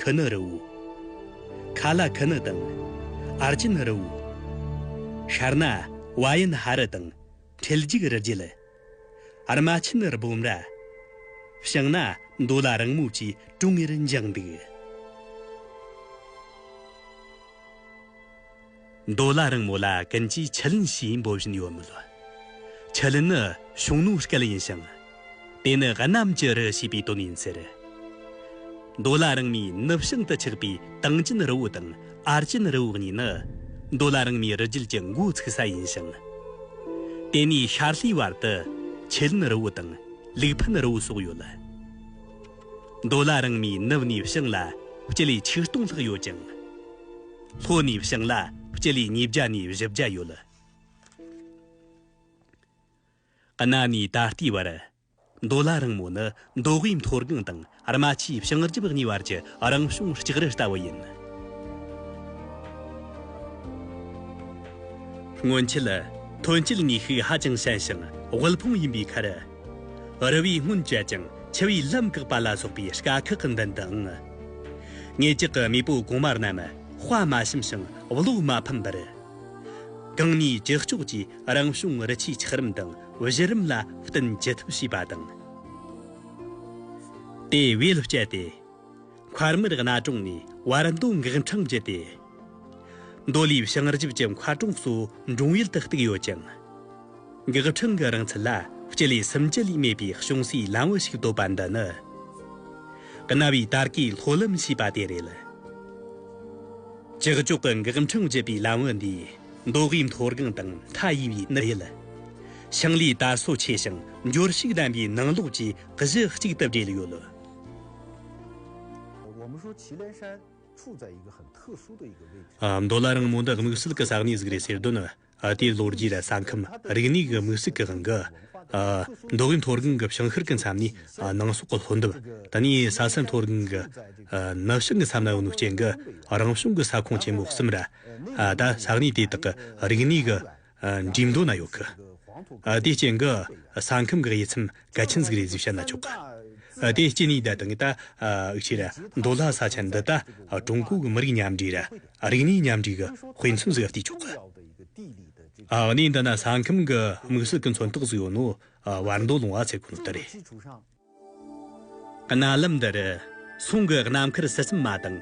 ཁི་ནི་རི་བོ། ཁ་ལ་ཁི་ནི་དང། ཨར་ཅི་ནི་རི་བོ། ཤར་ན་བ་ཡི་ན་ཧ་རི་དང་འཕྲེལ་འཇུག་རི་རྒྱལ། ཨར་མ་ཆི་ནི་རི་བོ་འདྲ། བྱང་ན་མདོ་ལ་རིང་མོ་བཅས་གྲོང་ངེར་འགྱིང་འདུག། མདོ་ལ་རིང་མོ་ལ་ཀུན་གྱིས་ཆུ་ལེན་ཞེས་འབོད་བཞིན་ཡོད་མོད། ཆུ་ལེན་ནི་གཞུང་ནོར་སྐལ་ཡིན་ཞིང། དེ་ནི་གནམ་གྱི་རི་ཞེས་པའི་དོན་ཡིན་ཟེར། མདོ་ལ་རིང་མོའི་ནུབ་བྱང་དུ་ཆགས་པའི་ཏང་ཅིན་རི་བོ་དང་ཨར་ཅིན་རི་བོ་གཉིས་ནི་མདོ་ལ་རིང་མོའི་རི་རྒྱུད་ཀྱི་མགོ་ཚུགས་ས་ཡིན་ཞིང། དེ་ནས་ཤར་ལྷོའི་བར་དུ་ཆུ་ལེན་རི་བོ་དང་ལིག་ཕུན་རི་བོ་སོགས་ཡོད་ལ། མདོ་ལ་རིང་མོའི་ནུབ་ནས་བྱང་ལ་སྤྱི་ལེ་ཆིག་སྟོང་ལྷག་ཡོད་ཅིང། ལྷོ་ནས་བྱང་ལ་སྤྱི་ལེ་ཉིས་བརྒྱ་ནས་བཞི་བརྒྱ་ཡོད། གནའ་ནས་ད་ལྟའི་བར། མདོ་བླ་རིང་མོ་ནི་མདོ་དབུས་མཐོ་སྒང་དང་རྨ་ཆུའི་བྱང་རྒྱབ་གཉིས་བར་གྱི་རང་བྱུང་ལྕགས་རི་ལྟ་བུ་ཡིན། སྔོན་ཆད། ཐོན་སྐྱེད་ནུས་ཤུགས་ཧ་ཅང་ཞན་ཞིང་དབུལ་ཕོངས་ཡིན་པའི་ཁར། རི་བའི་སྔོན་བྱས་ཀྱང་ཆུ་བའི་ལྷམ་བཀག་པ་ལ་སོགས་པའི་དཀའ་ཁག་གི་མདུན་དུའང། ངེད་ཅག་གི་མེས་པོ་གོང་མ་རྣམས་དཔའ་མ་ཞུམ་ཞིང་བློ་མ་ཕམ་པར། གང་ནུས་ཅི་ལྕོགས་ཀྱིས་རང་བྱུང་རི་ཆུའི་འཁྱགས་རོམ་དང་གཞི་རིམ་ལ་བསྟུན་ཅི་ཐུབ་བྱས་པ་དང། དེ་བས་སྤྱད་དེ། འཁར་མིར་གནའ་གྲོང་ནས་བར་མདོ་འགག་འཕྲང་བརྒྱུད་དེ། མདོ་ལུས་བྱང་རྒྱུད་ཀྱི་མཁར་གྲོང་གཙོ་འབྲོང་ཡུལ་དུ་གཏུགས་ཡོད་ཅིང། འགག་འཕྲང་གི་རིང་ཚད་ལ་སྤྱི་ལེ་སུམ་བཅུ་ལས་མེད་པའི་ཅུང་ཟད་ལམ་བུ་ཞིག་བཏོད་པ་འདི་ནི། གནའ་བའི་དར་གའི་ལྷོ་ལམ་ཞེས་པ་དེ་རེད། ཀྱག་ཀྱོག་གི་འགག་འཕྲང་བརྒྱུད་པའི་ལམ་བུ་འདིས་མདོ་དབུས་མཐོ་སྒང་དང་མཐའ་ཡས་པའི་ནི་ཡུལ། ཞིང་ལས་དར་སོ་ཆེ་ཞིང་འབྱོར་ཕྱུག་ལྡན་པའི་ནང་ལོགས་ཀྱི་གཞི་གཅིག་ཏུ་སྦྲེལ་ཡོད། མདོ་ལ་རིང་མོ་འདི་དམིགས་བསལ་གྱི་ས་གནས་གཟིགས་རེད་ཟེར་དོན་ནི་དེའི་ལོ་རྒྱུས་ལ་ས་ཁམས་རིག་གནས་ཀྱི་དམིགས་བསལ་གྱི་དབང་གིས། མདོ་དབུས་མཐོ་སྒང་གི་ཞིང་ཤར་གྱི་མཚམས་ནི་ནང་སོག་གི་ལྷོ་འདབས་དེ་ནས་ས་སེར་མཐོ་སྒང་གི་ནུབ་བྱང་གི་མཚམས་ལའང་ནུབ་སྐྱེལ་གྱི་རང་བྱུང་གི་ས་ཁོངས་ཆེན་མོ་གསུམ་རེད། ད་ས་གནས་དེ་དག་གི་རིག་གནས་ཀྱི། འགྲིག་མདོག་ན་ཡོག་གི། དེ་སྐྱེ་འགི། ས་ཁམས་གི་དབྱེ་མཚམས་ག་ཆི་འཛིག་རེ་གཟིགས་བྱ་ན་ཆོག་གི། དེ་སྐྱེ་ནི་ད་དང་གི་ད། ཨུ་ཆི་ར། མདོ་ལྷ་ས་ཆ་འདི་ད། ཀྲུང་གོ་གི་མི་རིགས་མཉམ་འདྲེས་ར། རིག་གནས་མཉམ་འདྲེས་གི་དཔེ་མཚོན་ཟིག་བསྟི་ཆོག་གི། གནས་འདི་ན་ས་ཁམས་གི་དམིགས་བསལ་གི་མཚོན་རྟགས་ཟིག་ཡོད་ནོ། བར་མདོ་ལུང་བ་ཚེ་གོ་ནོ་ད་རེད། གནའ་ལམ་འདིར་ཚོང་གི་གནའ་མཁར་སི་སིམ་མ་དང་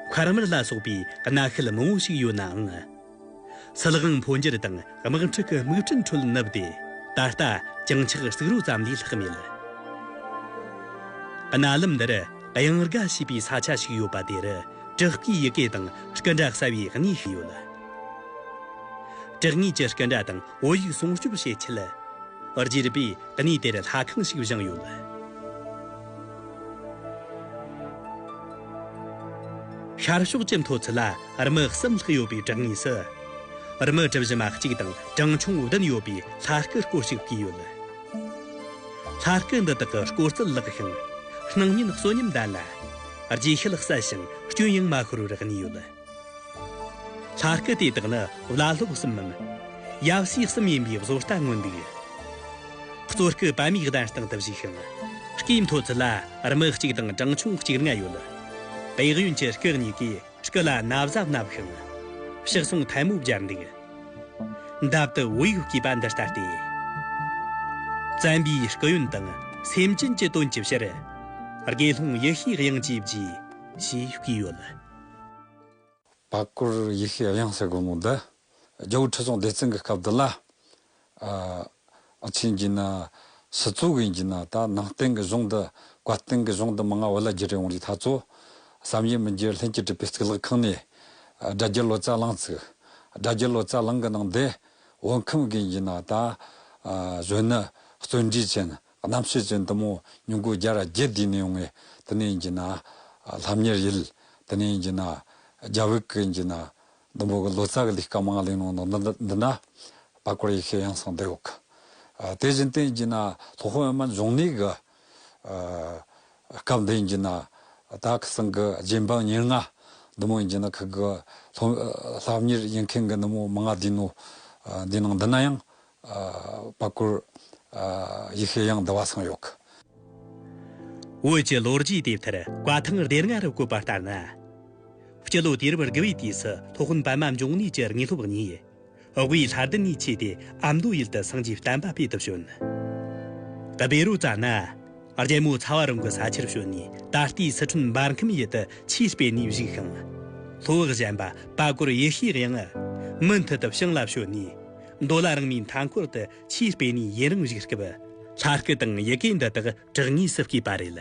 མཁར་མར་ལ་སོགས་པའི་གནའ་ཤུལ་མང་བོ་ཞིག་ཡོད་ནའང། སིལ་དབང་འཕོ་འགྱུར་དང་དམག་འཁྲུག་གི་དམིགས་སྐྲུན་ཁྲོད་བསྣུབས་ཏེ་ད་ལྟ་བྱང་ཆགས་བསྲེགས་རོ་ཙམ་ལས་ལྷག་མེད། གནའ་ལམ་འདིར་གཡང་རྒ་ཞེས་པའི་ས་ཆ་ཞིག་ཡོད་པ་དེར་བྲག་གི་ཡི་གེ་དང་སྐུ་འདྲ་གསལ་བའི་གནས་ཤིག་ཡོད། བྲག་ངོས་ཀྱི་སྐུ་འདྲ་དང། བོད་ཡིག་སྲུང་སྐྱོབ་བྱེད་ཆེད། རྒྱས་པའི་གནས་དེར་ལྷ་ཁང་ཞིག་བཞེངས་ཡོད། ཤར་ཕྱོགས་ཀྱི་མཐོ་ཚད་ལ་རྨི་གསུམ་ལྷག་ཡོད་པའི་བྲག་ངོས་སུ། རྨི་གྲུ་བཞི་མ་གཅིག་དང་བྲང་ཆུང་བདུན་ཡོད་པའི་ལྷ་སྐུ་སྐོར་ཞིག་བརྐོས་ཡོད། ལྷ་སྐུ་འདི་དག་གི་སྐོར་རྩིས་ལེགས་ཤིང། སྣང་བརྙན་གསོན་ཉམས་ལྡན་ལ། རྗེས་ཤུལ་གསལ་ཞིང་སྐྱོན་ཡང་མ་ཤོར་བར་གནས་ཡོད། ལྷ་སྐུ་དེ་དག་ནི་བླ་སློབ་གསུམ་མམ། ཡབ་སྲས་གསུམ་ཡིན་པའི་བཟོ་ལྟ་མངོན་འདུག། གཙོ་སྐུ་པད་མའི་གདན་སྟེང་དུ་བཞུགས་ཤིང། སྐྱེས་མཐོ་ཚུལ་ལ་རྨི་གཅིག་དང་བྲང་ཆུང་གཅིག་ལྔ་ཡོད། བེག་ཡོན་གྱི་སྐུ་གཉིས་ཀས་སྐུ་ལ་ན་བཟའ་མནབས་ཤིང། ཕྱག་ཟུང་ཐལ་མོ་སྦྱར་འདུག། འདབ་ཏུ་འོད་ཡུག་གིས་པ་འདི་ལྟ་སྟེ། བཙན་པའི་སྐུ་ཡོན་དང་སེམས་ཅན་གྱི་དོན་གྱི་ཕྱིར། དགེ་སློང་ཡེ་ཤེས་དབྱིངས་ཀྱི་རྗེས། ཞེས་བགྱིས་ཡོད། པ་སྐོར་ཡེ་ཤེས་དབྱངས་གསལ་སྒོ་མོ་འདི། རྒྱལ་བོ་ཁྲི་སྲོང་ལྡེ་བཙན་གྱི་སྐབས་འདི་ལ། ཕྱིན་གྱི་ན། སི་ཙུ་གིན་གྱི་ན་ད་ནང་བསྟན་གྱི་གཞུང་འདི། བཀའ་བསྟན་གྱི་གཞུང་འདི་མ་ང་བོ་ལ་བརྒྱུད་རེ་འོང་རིགས་ཐ་ཚོ། བསམ་ཡས་མི་འགྱུར་ལྷན་སྐྱེས་བྲིས་པའི་གཙུག་ལག་ཁང་ནས། དགྲ་བགེགས་ལོ་ཙཱ་བླངས་ཚིག། དགྲ་བགེགས་ལོ་ཙཱ་བླངས་གི་ནང་འདི། འོད་ཁམས་གིན་གྱི་ན་ད། གཞོན་ནུ་བརྩོན་འགྲུས་ཅན། རྣམ་ཤེས་ཀྱི་འདུ་མོ་ཉུང་ཀུན་བརྒྱ་ར་བརྒྱད་བསྡུས་ནས་འོང་ངེ། དེ་ནས་འགྱིང་ན། ལྷམ་ཉེར་ཡིད། དེ་ནས་འགྱིང་ན། རྒྱ་བོད་ཀྱི་འགྱིང་ན། ཟླུམ་པོ་གི་ལོ་ཙཱ་གི་ལི་ཀ་མང་གླིང་ནང་ན་འདི་ན། བར་སྐོར་ཡེ་ཤེས་ཡང་གསང་བདེ་འོག་གི། དེ་བཞིན་ཏེ་འགྱིང་ན། ལྷོ་ཁོ་ཨེ་མ་འབྱུང་གནས་ཀྱི། སྐབས་འདི་འགྱིང་ན། དྭགས་ཀྱི་སེང་གི་རྗེ་འབངས་ཉེར་ལྔ། འདུ་མོ་འགྱིང་ན་ཁུ་གུ། ལྷམ་ཉེར་ཡིད་མཁན་གྱི་འདུ་མོ་མང་བསྡུས་ནོ། འདི་ནང་འདི་ན་ཡང། སྤ་གོར། ཡི་ཤེས་ཡང་འདི་བ་སངས་ཡོད་ཀི། བོད་ཀྱི་ལོ་རྒྱུས་དེབ་ཐེར་བཀའ་ཐང་སྡེ་ལྔ་རུ་བཀོད་པ་ལྟར་ན། སྤྱི་ལོ་དུས་རབས་དགུ་བའི་དུས་སུ་ཐོག་ཧོན་པདྨ་འབྱུང་གནས་ཀྱི་དངོས་སློབ་གཉིས། དབུས་ལྷ་བདུན་གཉིས་ཆས་ཏེ་ཨ་མདོ་ཡུལ་དུ་སངས་རྒྱས་བསྟན་པ་སྤེལ་དུ་བྱོན། དུ་བེ་རུ་ཙཱ་ན། རྒྱལ་མོ་ཚ་བ་རོང་གི་ས་ཆར་བྱོན་ནས་ད་ལྟའི་སི་ཁྲོན་འབར་ཁམས་ཡུལ་དུ་ཆས་སྤེལ་ནས་བཞུགས་ཤིང། ལྷོ་བྷག་གཞན་པ་སྤ་གོར་ཡེ་ཤེས་ཡང། མུ་མཐུད་དུ་ཞིང་ལ་བྱོན་ནས། མདོ་ལ་རང་མོས་མཐའ་འཁོར་དུ་ཆེས་སྤེལ་ནས་ཡུན་རིང་རིགས་སྐབས། ལྷ་སྐུ་དང་ཡི་གེ་འདི་དག་གྲགས་ངེས་སུ་སྐྱེས་པ་རེད།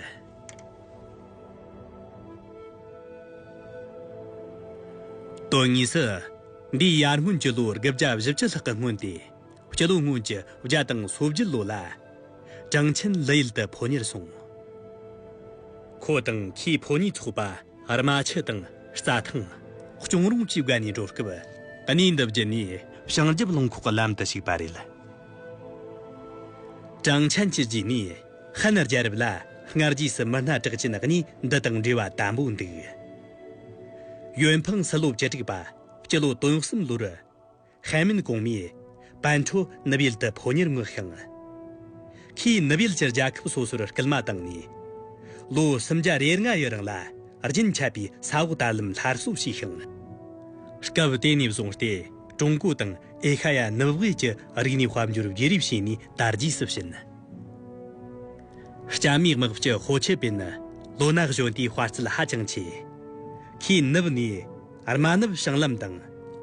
དོན་དངོས་སུ། འདིའི་ཡར་སྔོན་གྱི་ལོ་དགུ་བརྒྱ་བཞི་བཅུ་ལྷག་གི་སྔོན་ཏེ། སྤྱི་ལོ་སྔོན་གྱི་བརྒྱ་དང་སོ་བརྒྱད་ལོ་ལ། ཀྲང་ཆིན་ལི་ཡུལ་དུ་ཕོ་ཉར་སོང། ཁོ་དང་ཁོའི་ཕོ་ཉའི་ཚོགས་པ། རྨ་ཆུ་དང་རྩྭ་ཐང། གཅོང་རོང་བཅས་བགོས་ནས་འགྲོ་སྐབས་གནས་འདི་བརྒྱུད་ནས་བྱང་རྒྱབ་རླངས་ཁོག་གི་ལམ་དུ་ཞུགས་པ་རེད། ཀྲང་ཆན་གྱི་རྗེས་ནས་ཧན་རྒྱལ་རབས་ལ་སྔར་རྗེས་སུ་མི་སྣ་གྲགས་ཅན་གནས་འདི་དང་འབྲེལ་བ་དམ་པོ་འདུག། ཡོན་ཕང་སི་ལོ་བཅུ་དྲུག་པ་སྤྱི་ལོ་དོན་གསུམ་ལོར། ཧན་མིན་གོང་མས། པན་ཁྲོ་ནུབ་ཡུལ་དུ་ཕོ་ཉར་མངགས་ཤིང། ཁོས་ནུབ་ཡུལ་གྱི་རྒྱལ་ཁབ་སོ་སོར་སྐུལ་མ་བཏང་ནས། ལོ་སུམ་བརྒྱ་རེར་ང་ཡི་རིང་ལ་རྒྱུན་ཆད་པའི་ས་འོག་དར་ལམ་སླར་གསོ་བྱས་ཤིང། སྐབས་དེ་ནས་བཟུང་སྟེ་ཀྲུང་གོ་དང་ཨེ་ཤ་ཡ་ནུབ་བྷེལ་གྱི་རིག་གནས་དཔལ་འབྱོར་བརྗེ་རེས་བྱས་ནས་དར་རྒྱས་སུ་ཕྱིན། སྐྱ་མིའི་དམག་སྤྱི་ཧོ་ཆི་པིན་ནི་ལོ་ན་གཞོན་དུས་དཔའ་རྩལ་ཧ་ཅང་ཆེ། ཁོས་ནུབ་ནས། རྨ་ནུབ་བྱང་ལམ་དང་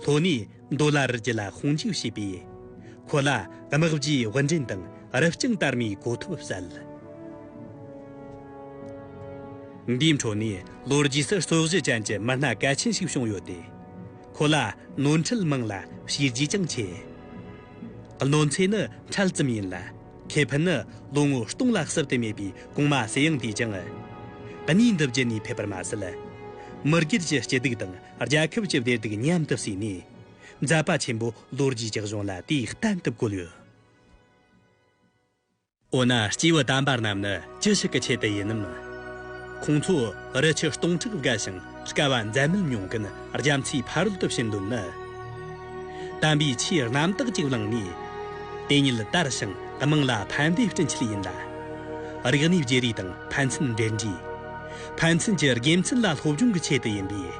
ལྷོ་ནས་མདོ་ལ་རི་རྒྱུད་ལ་ཁོང་འཇུག་བྱས་པས། ཁོ་ལ་དམག་བརྗེའི་དབུ་འདྲེན་དང་རི་རྐྱང་དར་མའི་གོ་ཐོབ་བསྩལ། འདིའི་འཕྲོ་ནས་ལོ་རྒྱུས་སུ་ཧྲོག་བཞི་ཅན་གྱི་མི་སྣ་གལ་ཆེན་ཞིག་བྱུང་ཡོད་དེ། ཁོ་ལ་ནོར་འཁྲུལ་མང་ལ་བྱས་རྗེས་ཀྱང་ཆེ། གནོད་འཚེ་ནི་འཕྲལ་ཙམ་ཡིན་ལ། ཁེ་ཕན་ནི་ལོ་ངོ་སྟོང་ལ་གསབ་ཏུ་མེད་པའི་གོང་མ་ཟེར་ཡང་འདུས་ཀྱང། གནས་འདི་བརྒྱུད་ནས་ཕེབས་པར་མ་ཟད། མི་སྒེར་གྱི་སྐྱིད་སྡུག་དང་རྒྱལ་ཁབ་ཀྱི་བདེ་སྡུག་མཉམ་དུ་བསྲེས་ནས། མཛད་པ་ཆེན་པོ་ལོ་རྒྱུས་ཀྱི་གཞུང་ལ་དེ་བསྟན་དུ་བཀོད་ཡོད། འོ་ན་སྐྱེས་བུ་དམ་པ་རྣམས་ནི། ཅི་ཞིག་གི་ཆེད་དུ་ཡིན་ནམ། ཁོང་ཚོ་རི་ཆུ་སྟོང་ཕྲག་བརྒལ་ཞིང་དཀའ་བ་འཛད་མེད་མྱོང་གིན་རྒྱ་མཚོའི་ཕ་རོལ་ཏུ་ཕྱིན་དོན་ནི། དམ་པའི་ཆོས་རྣམ་དག་ཅིག་བླངས་ནས། དེ་ཉིད་དར་ཞིང་དམངས་ལ་ཕན་པའི་སྤྲིན་ཆེད་ཡིན་ལ། རིག་གནས་བརྗེ་རེས་དང་ཕན་ཚུན་འབྲེལ་འདྲིས། ཕན་ཚུན་གྱི་དགེ་མཚན་ལ་སློབ་སྦྱོང་གི་ཆེད་དུ་ཡིན་པས།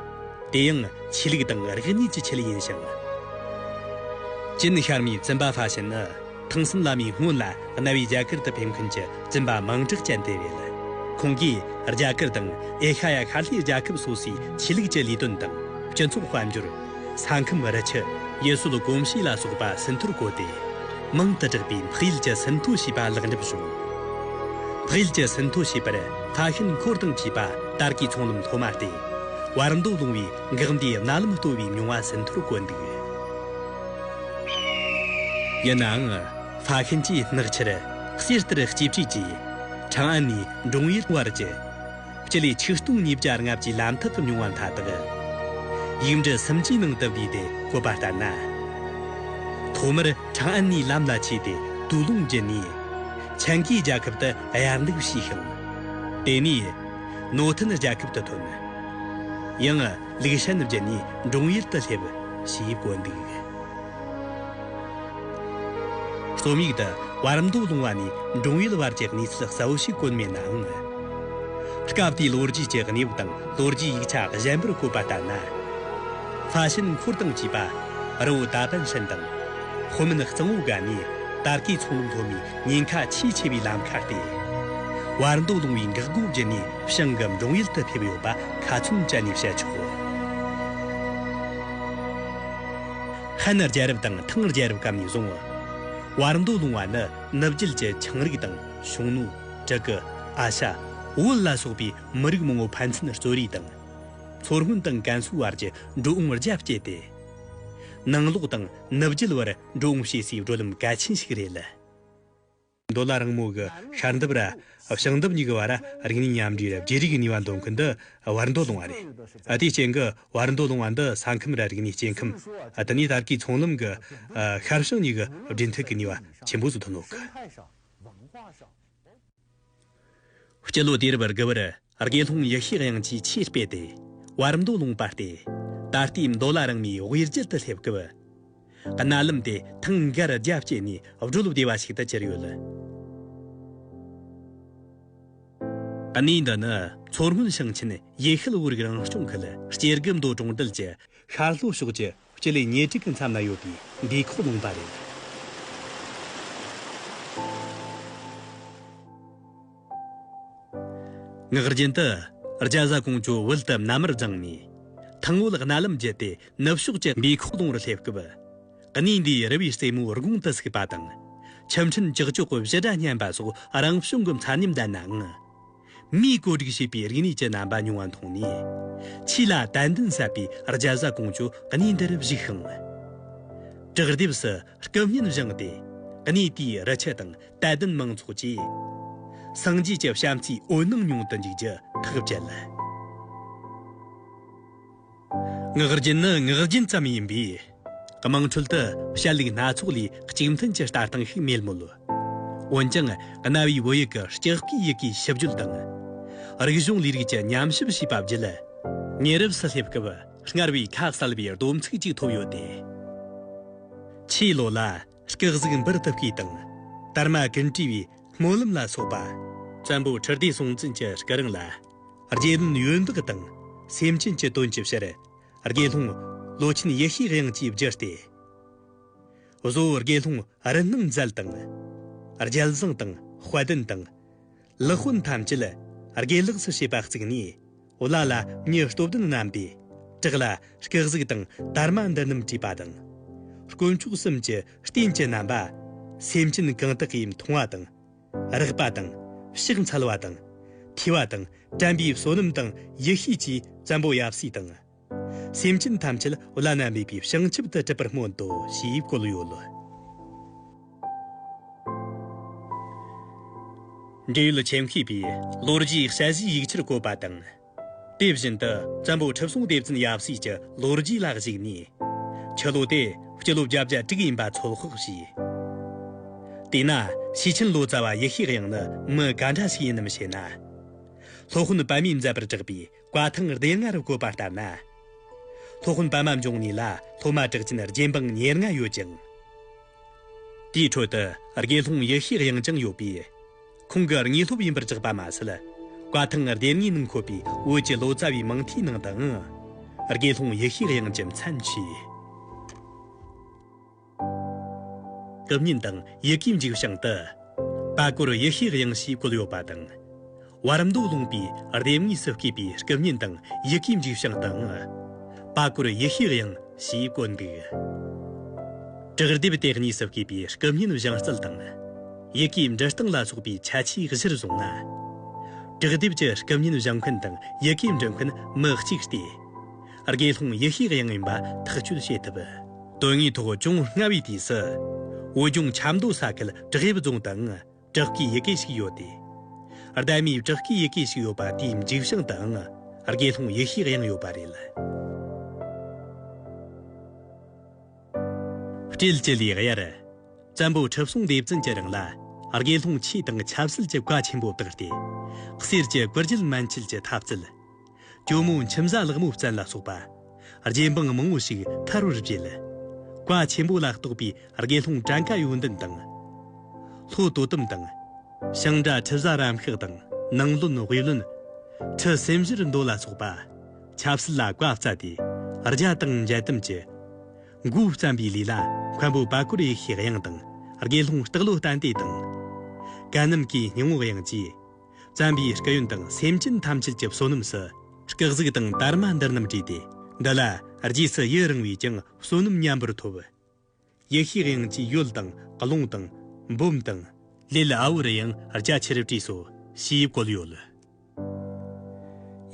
དེ་ཡང་ཆོས་ལུགས་དང་རིག་གནས་ཀྱི་ཆེད་ཡིན་ཞིང། ཅིན་ཤར་མའི་བཙུན་པ་ཧྥ་ཞན་ནི། ཐང་སུམ་བླ་མའི་སྔོན་ལ་གནའ་བོའི་རྒྱ་གར་དུ་ཕེབས་མཁན་གྱི་བཙུན་པ་མང་དྲག་ཅན་དེ་རེད་ལ། ཁོང་གིས་རྒྱ་གར་དང་ཨེ་ཤ་ཡ་ཤར་ལྷོའི་རྒྱལ་ཁབ་སོ་སོའི་ཆོས་ལུགས་ཀྱི་ལས་དོན་དང་སྤྱི་ཚོགས་དཔལ་འབྱོར། ས་ཁམས་རི་ཆུ། ཡུལ་སྲོལ་གོམས་གཤིས་ལ་སོགས་པ་ཟིན་ཐོར་བཀོད་དེ། མང་དུ་བསྒྲགས་པས་འཕགས་ཡུལ་གྱི་ཟིན་ཐོ་ཞེས་པ་ལེགས་འགྲུབ་བྱུང། འཕགས་ཡུལ་གྱི་ཟིན་ཐོ་ཞེས་པར་ལྷ་ཤིན་འཁོར་དང་བཅས་པ་དར་གའི་ཚོང་ལམ་ཐོག་མ་སྟེ། བར་མདོ་ལུང་བའི་འགག་མདའི་རྣ་ལམ་ལྟོ་བའི་མྱོང་བ་ཟིན་ཐོར་བཀོད་འདུག། ཡིན་ནའང། ཧྥ་ཤན་གྱིས་སྔགས་ཕྱིར་གསེར་ལྟར་གཅེས་ཕྲིས་ཀྱིས། ཁྲང་ཨན་ནས་འབྲུང་ཡུལ་བར་གྱི། སྤྱི་ལེ་ཆིག་སྟོང་ཉིས་བརྒྱ་ལྔ་བཅུའི་ལམ་ཐག་མྱོང་བ་མཐའ་དག། ཡིག་འབྲི་སུམ་ཅུའི་ནང་དུ་བསྡུས་ཏེ་བཀོད་པ་ལྟར་ན། ཐོག་མར་ཁྲང་ཨན་ནས་ལམ་ལ་ཆས་ཏེ་དུས་རླུང་བརྒྱུད་ནས། ཆན་གྱིས་རྒྱལ་ཁབ་ཏུ་ཡར་འདེགས་བྱས་ཤིང། དེ་ནས། ནོ་ཐན་རྒྱལ་ཁབ་ཏུ་ཐོན། ཡང། ལེགས་བཤད་རྣམ་རྒྱལ་ནི་འབྲོང་ཡུལ་དུ་སླེབས། ཞེས་བཀོད་འདུག། རྩོམ་ཡིག་འདི་བར་མདོ་ལུང་བ་ནས་འབྲོང་ཡུལ་བར་གྱི་གནས་ཚུལ་གསལ་བོ་ཞིག་བཀོད་མེད་ནའང། སྐབས་དེའི་ལོ་རྒྱུས་ཀྱི་གནས་བབ་དང་ལོ་རྒྱུས་ཡིག་ཆ་གཞན་པར་བཀོད་པ་ལྟར་ན། ལྷ་ཤིན་འཁོར་དང་བཅས་པ་རི་བོ་དག་པན་ཧྲན་དང། ཧོ་མིན་གཙང་བོ་འགའ་ནས་དར་གའི་ཚོང་ལུགས་སློབ་མའི་ཉེན་ཁ་ཆེས་ཆེ་བའི་ལམ་ཁ་སྟེ། བར་མདོ་ལུང་བའི་འགག་སྒོ་བརྒྱུད་ནས། ཞང་གི་འབྲོང་ཡུལ་དུ་ཕེབས་ཡོད་པ་ཁ་ཚོན་བཅད་ནས་བཤད་ཆོག། ཧན་རྒྱལ་རབས་དང་ཐང་རྒྱལ་རབས་སྐབས་ནས་བཟུང། བར་མདོ་ལུང་བ་ནི་ནུབ་རྒྱུད་ཀྱི་ཆིངས་རིགས་དང་ཞུང་ནུ། དྲུ་གུ། ཨ་ཤ། བོད་ལ་སོགས་པའི་མི་རིགས་མང་བོ་ཕན་ཚུན་རྩོད་རེས་དང། མཚོ་སྔོན་དང་ཀན་སུའུ་བར་གྱི་འགྲོ་འོང་རྒྱ་བསྐྱེད་དེ། ནང་ལོག་དང་ནུབ་རྒྱུད་བར་འགྲོ་འོང་བྱེད་སའི་བགྲོད་ལམ་གལ་ཆེན་ཞིག་རེད་ལ། མདོ་ལ་རང་མོས་ཀྱི་ཤར་འདེབས་ར་ཞང་འདེབས་གཉིས་ཀྱི་བར་རིག་གནས་མཉམ་འདྲེས་ར་བརྗེ་རིག་གི་ནུས་པ་འདོན་མཁན་འདི་བར་མདོ་ལུང་བ་རེད། དེའི་རྐྱེན་གྱི་བར་མདོ་ལུང་བ་འདི་ས་ཁམས་ར་རིག་གནས་སྐྱེ་ཁམས་དེ་ནས་དར་གྱི་ཚོང་ལམ་གྱི་ཤར་ཞང་གཉིས་ཀྱི་སྦྲེལ་མཐུད་ཀྱི་ནུས་པ་ཆེན་པོ་ཟུར་དུ་བསྣོགས། སྤྱི་ལོ་དུས་རབས་དགུ་བར་དགེ་སློང་ཡེ་ཤེས་དབྱངས་ཀྱིས་ཆོས་སྤེལ་ཏེ། བར་མདོ་ལུང་པར་ཏེ། ད་ལྟའི་མདོ་ལ་རང་མོས་དབུས་རྒྱུད་དུ་སླེབས་སྐབས། རྣ་ལམ་དེ་ཐང་སྒར་རྒྱ་བསྐྱེད་ནས་བགྲོད་བདེ་བ་ཞིག་ཏུ་གྱུར་ཡོད། གནས་འདི་ནི་མཚོ་སྔོན་ཞིང་ཆེན་ཡེ་ཤུལ་བོད་རིགས་རང་སྐྱོང་ཁུལ་སྐྱེ་རྒུ་མདོ་གྲོང་རྡལ་གྱི་ཤར་ལྷོ་ཕྱོགས་ཀྱི་སྤྱི་ལེ་ཉེར་གཅིག་གི་མཚམས་ན་ཡོད་པའི་འདིའི་ཁོག་ལུང་པ་རེད། ངག་རྒྱུན་དུ། རྒྱ་བཟའ་ཀོང་ཇོ་དབུལ་དུ་མནའ་མར་བརྫངས་ནས། ཐང་དབུལ་རྣ་ལམ་བརྒྱུད་དེ་ནུབ་ཕྱོགས་ཀྱི་འདིའི་ཁོག་ལུང་རུ་སླེབས་སྐབས། གནས་འདིའི་རི་བའི་རྩེ་མོའི་དགུང་དུ་ཟུག་པ་དང། ཆུ་འཕྲིན་ཀྱག་ཀྱོག་གི་བཞི་སྒྲ་སྙན་པ་སོགས་རང་བྱུང་གི་མཚར་ཉམས་ལྡན་ནའང། མིའི་བཀོད་སྒྲིག་བྱས་པའི་རིག་གནས་ཀྱི་རྣམ་པ་ཉུང་བ་མཐོང་ནས། ཆོས་ལ་དད་འདུན་ཟབ་པའི་རྒྱལ་བཟའ་ཀོང་ཇོ་གནས་འདིར་བཞུགས་ཤིང། བྲག་ལྡེབས་སུ་སྐུ་བརྙན་བཞེངས་ཏེ། གནས་དེའི་རུ་ཆུ་དང་དད་ལྡན་མང་ཚོགས་ཀྱིས། སངས་རྒྱས་ཀྱི་བྱམས་བརྩེའི་འོད་སྣང་མྱོང་དུ་འཇུག་རྒྱུ་ཐག་བཅད། ངག་རྒྱུན་ནི་ངག་རྒྱུན་ཙམ་ཡིན་པས། དམངས་ཁྲོད་དུ་བཤད་ལུགས་སྣ་ཚོགས་ལས་གཅིག་མཐུན་གྱི་ལྟ་སྟངས་ཤིག་མེད་མོད། འོན་ཀྱང་གནའ་བོའི་བོད་ཡིག་གི་ལྕགས་སྐུད་ཡི་གེའི་ཞིབ་བརྗོད་དང། རིག་གཞུང་ལས་རིགས་ཀྱི་ཉམས་ཞིབ་བྱས་པ་བརྒྱུད། ཉེ་རབས་སུ་སླེབས་སྐབས་སྔར་བས་ཁ་གསལ་བའི་སྡོམ་ཚིག་ཅིག་ཐོབ་ཡོད་དེ། ཆོས་ལོ་ལ། སྐག་གཟུགས་འབུར་དུ་བརྐོས་དང། དར་མ་ཀུན་བྲིས་པའི་སྨོན་ལམ་ལ་སོགས་པ། བཙན་པོ་ཁྲི་ལྡེ་སྲོང་བཙན་གྱི་སྐུ་རིང་ལ། རྗེ་བློན་ཡོན་བདག་དང། སེམས་ཅན་གྱི་དོན་གྱི་ཕྱིར། དགེ་སློང། བློ་ཆེན་ཡེ་ཤེས་དབྱངས་ཀྱིས་བསྒྱུར་ཏེ། གཟོ། དགེ་སློང་རིན་སྣང་མཛད་དང། རྒྱལ་བཟང་དང་དཔལ་ལྡན་དང། ལུགས་དཔོན་ཐམས་ཅད། དགེ་ལེགས་སུ་བྱེད་པ་བརྩིགས་ནས། བླ་ལ་ཉེ་སྟོབས་ལྡན་རྣམས་པས། བྲག་ལ་སྐག་གཟུགས་དང་དར་མ་འདི་རྣམས་བྲིས་པ་དང། དཀོན་མཆོག་གསུམ་གྱི་རྟེན་གྱི་རྣམ་པ། སེམས་ཅན་གང་དག་གིས་མཐོང་བ་དང། རགས་པ་དང། ཕྱག་འཚལ་བ་དང། ཐོས་བ་དང་དྲན་པའི་བསོད་ནམས་དང་ཡེ་ཤེས་ཀྱིས་བཙན་པོ་ཡབ་སྲས་དང། སེམས་ཅན་ཐམས་ཅད་བླ་ན་མེད་པའི་བྱང་ཆུབ་ཏུ་འགྲུབ་པར་སྨོན་ཏོ་ཞེས་བཀོད་ཡོད་ལ། འབྲེལ་ཡོད་མཆན་ཤེས་པས་ལོ་རྒྱུས་དཔྱད་གཞིའི་ཡིག་ཆར་བཀོད་པ་དང། དེ་བཞིན་དུ་བཙན་པོ་ཁྲི་སྲོང་ལྡེ་བཙན་ཡབ་སྲས་ཀྱི་ལོ་རྒྱུས་ལ་གཞིགས་ནས། ཁྱི་ལོ་དེ་སྤྱི་ལོ་བརྒྱ་བརྒྱད་དྲུག་ཡིན་པ་ཚོད་དཔག་བྱས། དེས་ན་ཤེས་ཆེན་ལོ་ཙཱ་བ་ཡེ་ཤེས་དབྱངས་ནི་མི་ག་འདྲ་ཞིག་ཡིན་ནམ་ཞེ་ན། སློབ་དཔོན་པདྨས་མཛད་པར་བསྒྲགས་པའི་བཀའ་ཐང་སྡེ་ལྔ་རུ་བཀོད་པ་ལྟར་ན། སློབ་དཔོན་པདྨ་འབྱུང་གནས་ལ་སློབ་མ་གྲགས་ཅན་རྗེ་འབངས་ཉེར་ལྔ་ཡོད་ཅིང། དེའི་ཁྲོད་དུ་དགེ་སློང་ཡེ་ཤེས་དབྱངས་ཀྱང་ཡོད་པས། ཁོང་གི་དངོས་སློབ་ཡིན་པར་བཅག་པ་མ་ཟད། བཀའ་ཐང་ལྡེབས་ངོས་ནང་འཁོད་པའི་བོད་ཀྱི་ལོ་ཙཱ་བའི་མིང་མཐའི་ནང་དུའང། དགེ་སློང་ཡེ་ཤེས་དབྱངས་ཀྱི་མཚན་མཆོད། དུ་བསྙེན་དང་ཡི་གེའི་འཇིགས་བྱང་དུ། དཔའ་བཀོད་ཡེ་ཤེས་དབྱངས་ཞེས་བཀོད་ཡོད་པ་དང། བར་མདོ་ལུང་པའི་ལྡེབས་ངོས་སུ་བསྐྱེད་པའི་སྐུ་བསྙེན་དང་ཡི་གེའི་འཇིགས་བྱང་དུའང། དཔའ་བཀོད་ཡེ་ཤེས་དབྱངས་ཞེས་བཀོད་འདུག། བྲག་ལྡེབས་དེ་གཉིས་སུ་བསྐྱེད་པའི་སྐུ་བསྙེན་བཞེངས་རྩལ་དང། ཡི་གེའི་འབྲི་སྟངས་ལ་སོགས་པའི་ཁྱད་ཆོས་གཞིར་བཟུང་ན། དྲུག་དེབ་ཀྱི་སྐུ་བརྙན་བཞེངས་མཁན་དང་ཡི་གེ་འབྲི་མཁན་མི་གཅིག་སྟེ། དགེ་སློང་ཡེ་ཤེས་དབྱངས་ཡིན་པ་ཐག་གཅོད་བྱེད་ཐུབ། དོན་དངོས་ཐོག་ཅུང་སྔ་བའི་དུས་སུ། བོད་ལྗོངས་ཆབ་མདོ་ས་ཁུལ་བྲག་ཡིབ་རྫོང་དང་བྲག་སྐའི་ཡི་གེ་ཞིག་ཡོད་དེ། སྡེ་མིའི་བྲག་སྐའི་ཡི་གེ་ཞིག་ཡོད་པ་དེའི་འཇིགས་བྱང་དང་དགེ་སློང་ཡེ་ཤེས་དབྱངས་ཡོད་པ་རེད། སྤྲེལ་གྱི་ལིའི་དབྱར། བཙན་པོ་ཁྲི་སྲོང་ལྡེ་བཙན་གྱི་རིང་ལ། དགེ་སློང་ཆོས་དང་ཆབ་སྲིད་ཀྱི་བཀའ་ཆེན་པོ་བཏགས་ཏེ། གསེར་གྱི་བཀུར་རྒྱལ་མན་ཆད་ཀྱི་ཐབས་བཙལ། གྱོ་མོ་མཆིམས་བཟའ་ལག་མོ་བཙན་ལ་སོགས་པ། རྗེ་འབངས་མང་བོ་ཞིག་ཐར་བར་བྱེད། བཀའ་ཆེན་པོ་ལ་གཏོགས་པའི་དགེ་སློང་བྲན་ཀ་ཡོན་ཏན་དང། ལྷོ་དོ་དམ་དང། ཤིང་བྲ་ཁྲི་བཟའ་རམ་ཤགས་དང་ནང་བློན་དབྱི་བློན། ཁྲི་སེམས་བཞིར་མདོ་ལ་སོགས་པ། ཆབ་སྲིད་ལ་བཀའ་སྩལ་ཏེ། རྒྱ་དང་འཇལ་དམ་གྱི། མགོའི་བརྩམས་པའི་ལུས་ལ། མཁན་པོ་པཱ་ཀོར་ཡེ་ཤེས་དབྱངས་དང། དགེ་སློང་སྟག་ལོ་བསྟན་དེ་དང། གད་སྣམ་གྱི་སྙིང་བོ་དབྱངས་ཀྱིས། བརྩམས་པའི་སྐུ་ཡོན་དང་སེམས་ཅན་ཐམས་ཅད་ཀྱི་བསོད་ནམས་སུ། སྐག་གཟུགས་དང་དར་མ་འདི་རྣམས་བྲིས་ཏེ། འདི་ལ་རྗེས་སུ་ཡི་རང་བས་ཀྱང་བསོད་ནམས་མཉམ་པར་ཐོབ། ཡེ་ཤེས་དབྱིངས་ཀྱི་ཡུལ་དང་ཀློང་དང་འབུམ་དང། ལས་ལ་ཨའུ་རུ་ཡང་རྒྱ་ཆེར་བྲིས་སོ་ཞེས་བཀོད་ཡོད།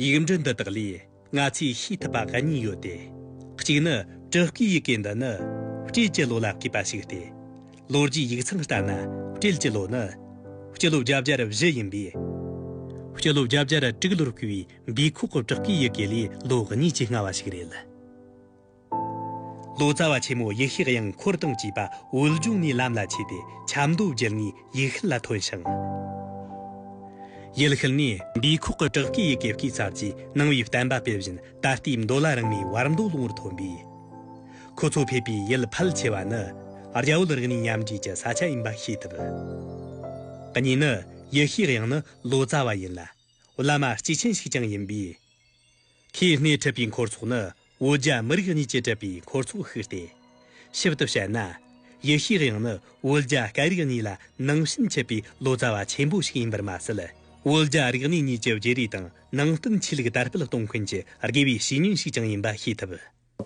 ཡིག་འབྲུ་འདི་དག་ལས་ང་ཚོས་ཤེས་ཐུབ་པ་ག་གཉིས་ཡོད་དེ། གཅིག་ནི་དྲུ་སྐུའི་ཡི་གེ་འདི་ནི་སྤྲེལ་གྱི་ལོ་ལ་བསྐུས་པ་ཞིག་སྟེ། ལོ་རྒྱུས་ཡིག་ཚང་ལྟར་ན་སྤྲེལ་གྱི་ལོ་ནི་སྤྱི་ལོ་བརྒྱ་བརྒྱར་བཞི་ཡིན་པས། སྤྱི་ལོ་བརྒྱ་བརྒྱར་དྲུག་ལོར་བསྐུས་པའི་སྦི་ཁོག་གི་དྲུ་སྐུའི་ཡི་གེ་ལས་ལོ་གཉིས་ཀྱིས་སྔ་བ་ཞིག་རེད། ལོ་ཙཱ་བ་ཆེན་མོ་ཡེ་ཤེས་དབྱངས་འཁོར་དང་བཅས་པ་འོད་འབྱུང་ནས་ལམ་ལ་ཆས་ཏེ་ཆབ་མདོ་རྒྱལ་ངའི་ཡུལ་ཤུལ་ལ་ཐོན་ཞིང། ཡུལ་ཤུལ་ནས། འདིའི་ཁོག་གི་བྲག་གི་ཡི་གེ་བསྐུས་ཚར་རྗེས་གནང་བའི་བསྟན་པ་སྤེལ་བཞིན་ད་ལྟའི་མདོ་ལ་རིང་མོའི་བར་མདོ་ལོ་ངོར་ཐོན་པས། ཁོ་ཚོ་ཕེབས་པའི་ཡུལ་ཕལ་ཆེ་བ་ནི་རྒྱ་བོད་རིག་གནས་མཉམ་འདྲེས་ཀྱི་ས་ཆ་ཡིན་པ་ཤེས་ཐུབ། གཉིས་ནི། ཡེ་ཤེས་དབྱངས་ནི་ལོ་ཙཱ་བ་ཡིན་ལ། བླ་མ་སྐྱེས་ཆེན་ཞིག་ཀྱང་ཡིན་པས། ཁོས་སྣེ་ཁྲིད་པའི་འཁོར་ཚོགས་ནི་བོད་རྒྱ་མི་རིགས་གཉིས་ཀྱིས་བྲིས་པའི་འཁོར་ཚོགས་ཤིག་སྟེ། ཞིབ་ཏུ་བཤད་ན། ཡེ་ཤེས་དབྱངས་ནི་བོད་རྒྱ་སྐད་རིགས་གཉིས་ལ་ནང་བཞིན་མཁས་པའི་ལོ་ཙཱ་བ་ཆེན་པོ་ཞིག་ཡིན་པར་མ་ཟད། བོད་རྒྱ་རིག་གནས་གཉིས་ཀྱི་བརྗེ་རེས་དང་ནང་བསྟན་ཆོས་ལུགས་དར་སྤེལ་གཏོང་མཁན་གྱི་དགེ་བའི་བཤེས་གཉེན་ཞིག་ཀྱང་ཡིན་པ་ཤེས་ཐུབ།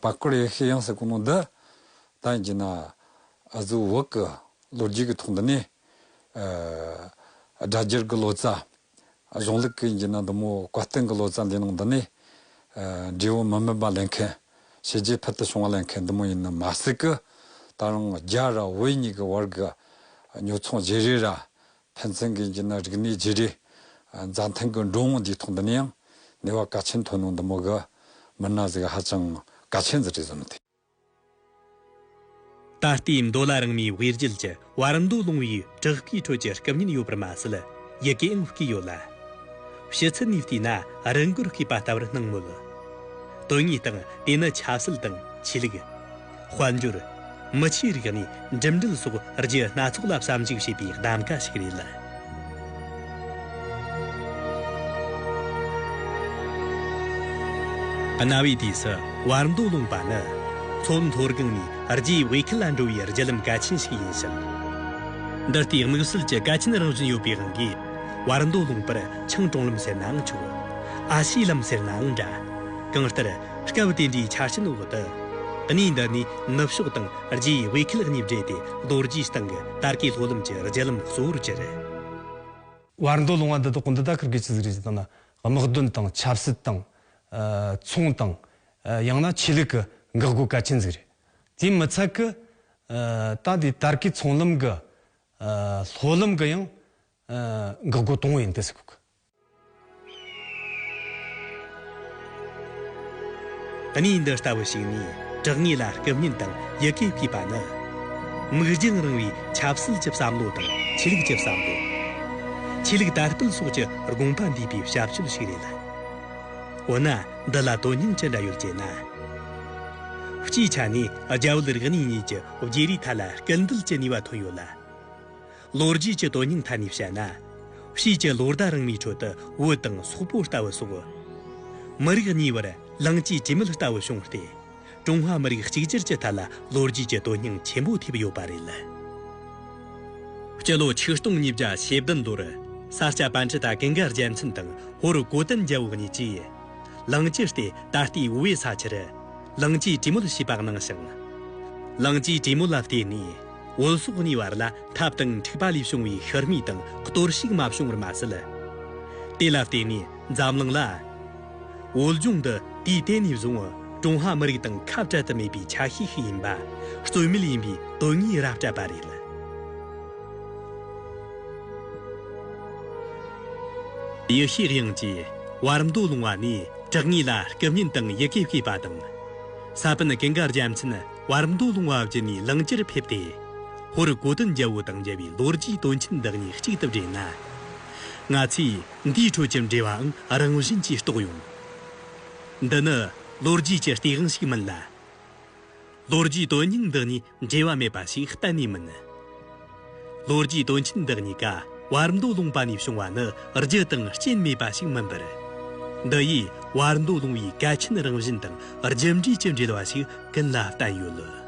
བར་སྐོར་ཡེ་ཤེས་དབྱངས་སུ་གོ་ནོ་འདི་དང་བརྗེས་ན། གཟུ་བོར་གྱི་ལོ་རྒྱུས་ཀྱི་ཐོག་འདི་ནས། སྒྲ་སྦྱར་གྱི་ལོ་ཙཱ་གཞུང་ལུགས་ཀྱི་འཇིགས་སྣང་དུ་མོ་བཀའ་བསྟན་གྱི་ལོ་ཙཱ་འདིའི་ནང་དུ་ནི། འབྲས་བུ་མི་དམན་པ་ལེན་མཁན། བྱས་རྗེས་ཕུལ་དུ་བྱུང་བ་ལེན་མཁན་འདི་མོ་ཡིན་ནི་མ་སྲིད་ཀི། ད་རུང་རྒྱ་ར་བོད་གཉིས་ཀྱི་བར་གྱི་ཉོ་ཚོང་བརྗེ་རེས་ར། ཕན་ཚུན་གྱི་འཇིགས་སྣང་རིག་གནས་བརྗེ་རེས། མཛའ་མཐུན་གྱི་འགྲོ་འོང་འདིའི་ཐོག་འདི་ནི་ཡང་ནུས་བ་གལ་ཆེན་ཐོན་ནོ་འདི་མོ་གི། མི་སྣ་ཟིག་ཧ་ཅང་གལ་ཆེན་ཟིག་རེད་བཟོ་ནི་ཐུ། ད་ལྟའི་མདོ་ལ་རང་མོས་དབྱེ་འབྱེད་ཀྱི་བར་མདོ་ལུང་བའི་བྲག་གི་ཁྲོད་ཀྱི་སྐབས་ཉིད་ཡོད་པར་མ་ཟད་ཡི་གེའང་བརྐོས་ཡོད་ལ། ཕྱི་ཚུལ་ནས་བལྟས་ན་རི་མགོར་བརྐོས་པ་ལྟ་བུར་སྣང་མོད། དོན་དངོས་སྟེང་དེ་ནི་ཆབ་སྲིད་དང་ཆོས་ལུགས། དཔལ་འབྱོར། མི་ཆོས་རིག་གནས། འགྲིམ་འགྲུལ་སོགས་རྒྱུ་སྣ་ཚོགས་ལ་བསམ་གཞིགས་བྱེད་པའི་གདམ་ག་ཞིག་རེད་ལ། གནའ་བོའི་དུས་སུ་བར་མདོ་ལུང་པ་ནི་མཚོ་མཐོར་སྒང་ནས་རྒྱའི་དབུས་ཁུལ་ལ་འགྲོ་བའི་རྒྱུ་ལམ་གལ་ཆེན་ཞིག་ཡིན་ཞིང། འདི་ལྟའི་དམིགས་བསལ་གྱི་གལ་ཆེན་རང་བཞིན་ཡོད་པའི་དབང་གིས་བར་མདོ་ལུང་པར་ཆང་གྲོང་ལམ་ཟེར་ནའང་ཆོག། ཨ་ཤེ་ལམ་ཟེར་ནའང་འདྲ། གང་ལྟར། སྐབས་དེ་འདྲའི་ཆ་རྐྱེན་འོག་ཏུ། གནས་འདི་ནས་ནུབ་ཕྱོགས་དང་རྗེ་ཡི་དབུས་ཁུལ་གཉིས་སྦྲེལ་ཏེ་རྡོ་རྗེའི་གསང་གི་དར་དཀའི་ལྷོ་ལམ་གྱི་རྒྱལ་ལམ་གཙོ་བོར་གྱུར། བར་མདོ་ལུང་བ་འདི་དག་འདི་ལྟར་ཁུར་དགོས་ཚུལ་གཟིགས་རིགས་སུ་བཏང་ན་དམག་དོན་དང་ཆབ་སྲིད་དང། ཚོང་དང། ཡང་ན་ཆོས་ལུགས་ཀྱི་འགག་སྒོ་གལ་ཆེན་ཟིག་རེད། དེའི་མི་ཚད་ཀྱི། ད་ལྟའི་དར་དཀའི་ཚོང་ལམ་གྱི། ལྷོ་ལམ་གྱི་ཡང། འགག་སྒོ་དང་བོ་ཡིན་ཏེ་སི་ཁུག། གནས་འདི་ལྟ་བུ་ཞིག་ནས་གྲགས་ངེས་ལ་སྐུ་བརྙན་དང་ཡི་གེ་བསྐུས་པ་ནི། མིག་རྒྱང་རིང་བའི་ཆབ་སྲིད་ཀྱི་བསམ་བློ་དང་ཆོས་ལུགས་ཀྱི་བསམ་བློ། ཆོས་ལུགས་དར་སྤེལ་སོགས་ཀྱི་དགོངས་པ་འདུས་པའི་ཞབས་ཞུ་ཞིག་རེད་ལ། འོ་ན་འདི་ལ་དོན་སྙིང་ཅི་འདྲ་ཡོད་ཅེ་ན། སྤྱིའི་ཆ་ནས་རྒྱ་བོད་རིག་གནས་གཉིས་ཀྱི་བརྗེ་རེས་ཐད་ལ་སྐུལ་འདེད་ཀྱི་ནུས་པ་ཐོན་ཡོད་ལ། ལོ་རྒྱུས་ཀྱི་དོན་སྙིང་ཐད་ནས་བཤད་ན། དཔྱིད་ཀྱི་ལོ་ཟླ་རིང་མོའི་ཁྲོད་དུ་འོད་དང་སོག་པོ་ལྟ་བུ་སོགས། མི་རིགས་གཉིས་བར་ལངས་སྐྱེས་ཇི་མེད་ལྟ་བུ་བྱུང་སྟེ། ཀྲུང་ཧྭ་མི་རིགས་གཅིག་གྱུར་གྱི་ཐད་ལ་ལོ་རྒྱུས་ཀྱི་དོན་སྙིང་ཆེན་པོ་ཐེབས་ཡོད་པ་རེད་ལ། སྤྱི་ལོ་ཆིག་སྟོང་ཉིས་བརྒྱ་ཞེ་བདུན་ལོར་ས་སྐྱ་པཎ་ཆེན་དང་ཀེང་ག་རྒྱལ་མཚན་དང་ཧོར་གོ་བསྟན་རྒྱལ་བོ་གཉིས་ཀྱིས། ལངས་སྐྱེས་ལྟེ་ད་ལྟའི་དབུས་པའི་ས་ཆར། ལངས་སྐྱེས་བྲིས་མོལ་བྱས་པ་གནང་ཞིང། ལངས་སྐྱེས་བྲིས་མོལ་ལ་བརྟེན་ནས། བོད་སོག་གཉིས་བར་ལ་ཐབས་དང་འཁྲིག་པ་ལས་བྱུང་བའི་ཤི་རྨས་དང་གཏོར་བཤིག་མ་བྱུང་བར་མ་ཟད། དེ་ལ་བརྟེན་ནས་འཛམ་གླིང་ལ། བོད་ལྗོངས་འདི་དུས་དེ་ནས་བཟུང་ཀྲུང་ཧྭ་མི་རིགས་དང་ཁ་བྲལ་དུ་མེད་པའི་ཆ་ཤས་ཤིག་ཡིན་པ། རྩོད་མེད་ཡིན་པའི་དོན་དངོས་རབ་སྤྲད་པ་རེད། ཡེ་ཤེས་དབྱིངས་ཀྱིས་བར་མདོ་ལུང་བ་ནས་གྲགས་ངེས་ལ་སྐུ་བརྙན་དང་ཡི་གེ་བསྐྱེད་པ་དང། ས་པཎ་གིང་གར་རྒྱལ་མཚན། བར་མདོ་ལུང་བ་བརྒྱུད་ནས་ལང་ཀྱིར་ཕེབས་ཏེ། ཧོར་དགོ་དོན་རྒྱལ་པོ་དང་འབྲེལ་བའི་ལོ་རྒྱུས་དོན་ཆེན་དག་ཉིད་གཅིག་ཏུ་སྦྲེལ་ན། ང་ཚོས་འདིའི་ཁྲོད་ཀྱི་འབྲེལ་བའང་རང་བཞིན་གྱིས་རྟོགས་ཡོང། འདི་ནི་ལོ་རྒྱུས་ཀྱི་སྟེས་དབང་ཞིག་མིན་ལ། ལོ་རྒྱུས་དོན་སྙིང་འདི་གཉིས་འབྲེལ་བ་མེད་པ་ཞིག་གཏན་ནས་མིན། ལོ་རྒྱུས་དོན་ཆེན་འདི་གཉིས་ཀ་བར་མདོ་ལུང་པ་ནས་བྱུང་བ་ནི་རྒྱུ་དང་རྐྱེན་མེད་པ་ཞིག་མིན་པར། འདི་ཡིས་བར་མདོ་ལུང་བའི་གལ་ཆེན་རང་བཞིན་དང་རྒྱུ་འབྲས་ཀྱི་འབྲེལ་བ་ཞིག་ཀུན་ལ་བསྟན་ཡོད་ལ།